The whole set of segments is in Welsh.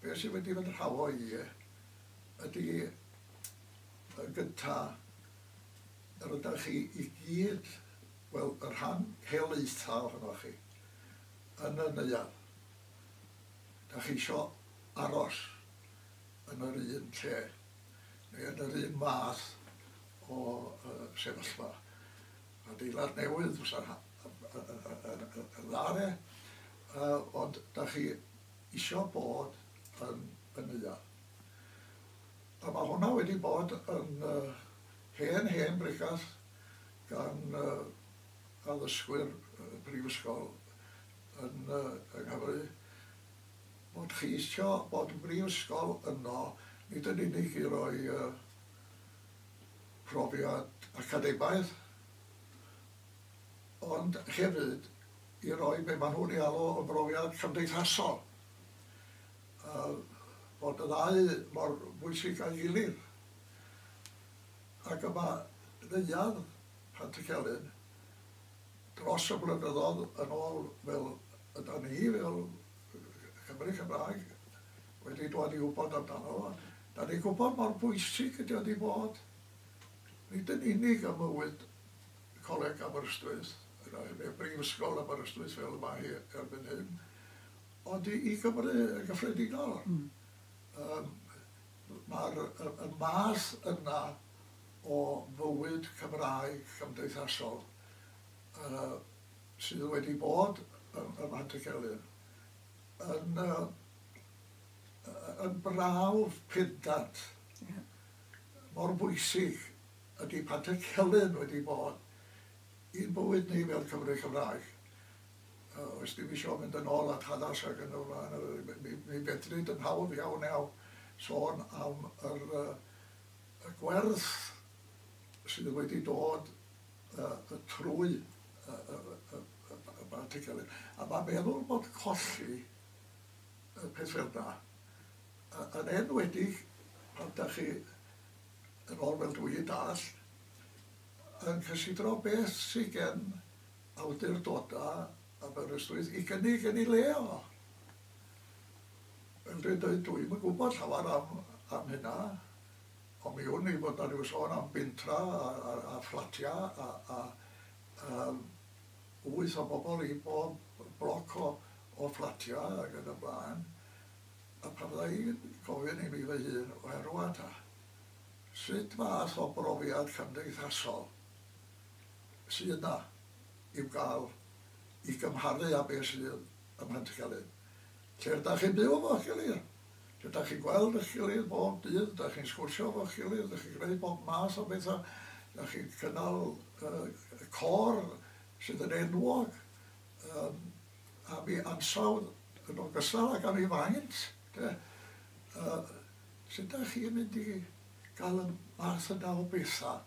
Be sydd wedi fy nhraddo i ydy yn gynta' yr ydach chi i gyd, wel y rhan helaetha' ohonoch chi yn y neuadd, 'dach chi isio aros yn yr un lle neu yn yr un math o sefyllfa. Adeilad newydd fysa'n dda de, ond da chi isio bod yn y neuadd. A mae hwnna wedi bod yn hen, hen bregeth gan addysgwyr y brifysgol yn yng Nghymru, bod chi isio bod yn brifysgol yno, nid yn unig i roi profiad academaidd, ond hefyd i roi be maen nhw'n ei alw yn brofiad cymdeithasol, a bod y ddau mor bwysig â'i gilydd. Ac yma, neuadd Pantycelyn, dros y blynyddoedd yn ôl, fel ydan ni, fel Cymry Cymraeg, wedi dod i wybod amdano fo. Dan ni'n gwybod mor bwysig ydy o wedi bod, nid yn unig ym mywyd Coleg Aberystwyth, neu Brifysgol Aberystwyth fel y mae hi erbyn hyn, ond i i Gymru yn gyffredinol. Yym mae'r y y math yna o fywyd Cymraeg cymdeithasol yy sydd wedi bod ym ym Mhant-y-celyn yn yy yn brawf pendant. Mor bwysig ydy Patrick Celyn wedi bod i'n bywyd ni fel Cymry Cymraeg. Os ddim eisiau mynd yn ôl at hanes ac yn y flaen, mi fedri yn hawdd iawn iawn sôn am yr, y gwerth sydd wedi dod uh, trwy uh, uh, uh, Patrick Celyn. A mae meddwl bod colli y peth fel 'na, yn enwedig pan dach chi yn ôl fel dwi i dallt, yn cysidro beth sy gen awdurdoda Aberystwyth i gynnig yn ei le o. Fel dwi'n dweud, dwi'm yn gwybod llawer am am hynna, ond mi wn i bod 'na ryw sôn am bentra a a a fflatia a a yym wyth o bobl i bob bloc o fflatiau ac yn y blaen, a pan fydda i'n gofyn i mi fy hun, wel rŵan ta, sut fath o brofiad cymdeithasol sydd 'na i'w gael i gymharu â beth sydd ym Mhentgelyn? Lle dach chi'n byw efo'ch gilydd? Lle dach chi'n gweld eich gilydd bob dydd? Dach chi'n sgwrsio efo'ch gilydd? Dach chi'n gwneud bob math o bethau? Dach chi'n cynnal y côr sydd yn enwog am ei ansawdd yn ogystal ag am ei faint? De? Sut dach chi'n mynd i gael y math yna o bethau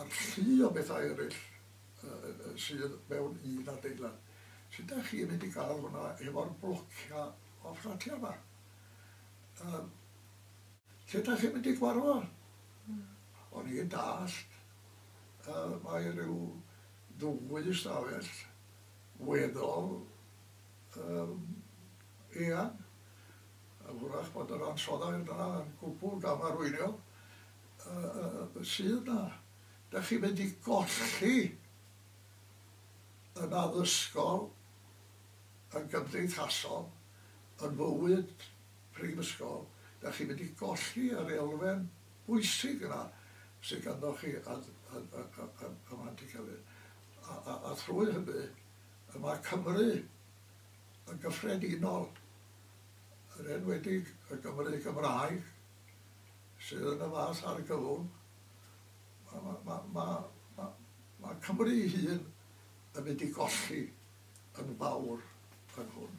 a'r llu o bethau eraill? sydd mewn un adeilad. Sut dach chi'n mynd i gael hwnna hefo'r blocia o fflatia yma? Yym lle dach chi'n mynd i gwarfod o? Hmm. O'n i'n dallt yy mae rhyw ddwy ystafell weddol um, eang a hwrach bod yr ansoddair yna yn gwbl gamarweiniol uh, sydd yna. Dach chi'n mynd i golli yn addysgol, yn gymdeithasol, yn fywyd prifysgol, dach chi'n mynd i golli yr elfen bwysig yna sy ganddoch chi yn Mhlant y Cyfun. A thrwy hynny, y mae Cymru yn gyffredinol, yn enwedig y Gymru Gymraeg, sydd yn y fath argyfwng, Mae Cymru ei hun yn mynd i golli yn fawr yn hwn.